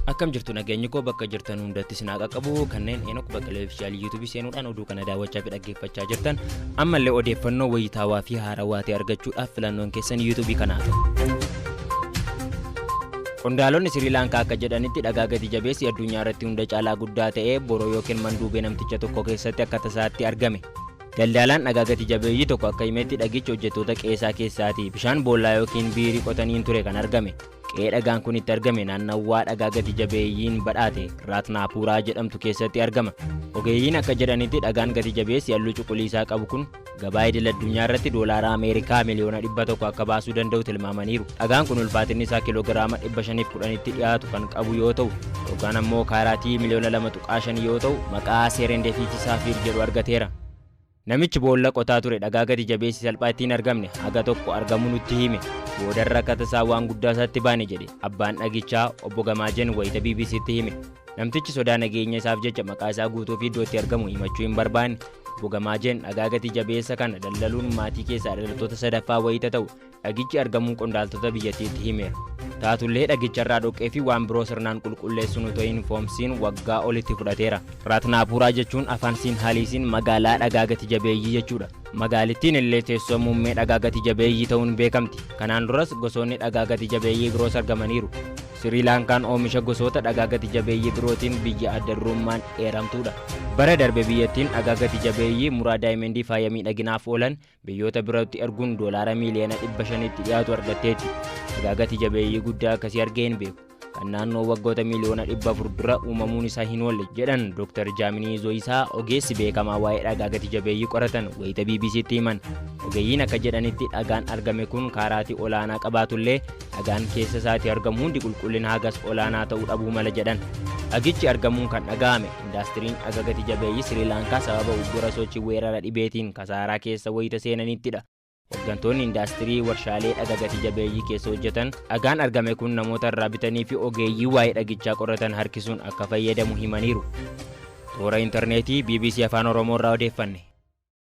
akkam jirtu nageenyi koo bakka jirtan hundatti sinaa qaqqabu kanneen eenok baqqalee ofishaalii yuutuubii seenuudhaan oduu kana daawwachaa fi dhaggeeffachaa jirtan ammallee odeeffannoo wayitaawaa fi haarawaa ta'e argachuudhaaf filannoon keessan yuutuubii kanaa ta'u. Qondaalonni Sirii Laankaa akka jedhanitti dhagaa gati jabeessi addunyaa irratti hunda caalaa guddaa ta'ee boroo yookiin manduubee namticha tokko keessatti akka tasaatti argame. Daldaalaan dhagaa gati jabeeyyii tokko akka himetti dhagichi hojjettoota qe'ee isaa keessaati bishaan boollaa yookiin biirii qotaniin ture kan argame. Qe'ee dhagaan kun itti argame naannawwaa dhagaa gati jabeeyyiin badhaate Raatnaapuuraa jedhamtu keessatti argama. Ogeeyyiin akka jedhanitti dhagaan gati jabeessi halluu cuquliisaa qabu kun Gabaa idil addunyaa irratti doolaara Ameerikaa miliyoona 100 akka baasuu danda'u tilmaamaniiru. Dhagaan kun ulfaatinni isaa kiloogiraama 510tti dhiyaatu kan qabu yoo ta'u, yookaan ammoo kaaraatii miliyoona 2.5 yoo ta'u, maqaa Seerendefiitii Saafiir jedhu argateera. Namichi boolla qotaa ture dhagaa gati jabeessi salphaa itti hin argamne haga tokko argamuu nutti hime. Boodarra akka tasaa waan guddaa isaatti baane jedhe abbaan dhagichaa obbo Gamaajeen wayita BBC'tti hime. Namtichi sodaa nageenya isaaf jecha maqaa isaa guutuu fi iddoo itti argamu himachuu hin barbaanne. Bogamaajeen dhagaa gati jabeessa kana daldaluun maatii keessaa dhalattoota sadaffaa wayita ta'u dhagichi argamuu qondaaltota biyyattiitti himeera. Taatullee dhagicharraa dhoqqee fi waan biroo sirnaan qulqulleessuun otoo hin foomsiin waggaa olitti fudhateera. Raatnaapuuraa jechuun afaan Siinhaaliisiin magaalaa dhagaa gati jabeeyyii jechuudha. Magaalittiin illee teessoo muummee dhagaa gati jabeeyyii ta'uun beekamti. Kanaan duras gosoonni dhagaa gati jabeeyyii biroos argamaniiru. Sirii Laankaan oomisha gosoota dhagaa gati jabeeyyii birootiin biyya adda durummaan eeramtuudha. Bara darbe biyyattiin dhagaa gati jabeeyyii muraa daayimendii faaya miidhaginaaf oolan biyyoota birootti erguun doolaara miiliyoona 500tti dhiyaatu argatteetti. Dhagaa gati jabeeyyii guddaa akkasii argee hin beeku. Kan naannoo waggoota miiliyoona 400 dura uumamuun isaa hin oolle, jedhan Dr. Jaaminii Zoyisaa ogeessi beekamaa waa'ee dhagaa gati jabeeyyii qoratan wayita BBC'tti himan. Ogeeyyiin akka jedhanitti dhagaan argame kun kaaraatii olaanaa qabaatullee Dhagaan keessa isaatii argamu hundi qulqullina hagas olaanaa ta'uu dhabuu mala jedhan. Dhagichi argamuun kan dhaga'ame indaastiriin dhaga gati jabeeyyii Sri Laankaa sababa uggura sochii weerara dhibeetiin kasaaraa keessa wayita seenanittidha. Hoggantoonni indaastirii warshaalee dhaga gati jabeeyyii keessa hojjetan dhagaan argame kun namoota irraa bitanii fi ogeeyyii waa'ee dhagichaa qoratan harkisuun akka fayyadamu himaniiru. Toora intarneetii bbc Afaan Oromoo irraa odeeffanne.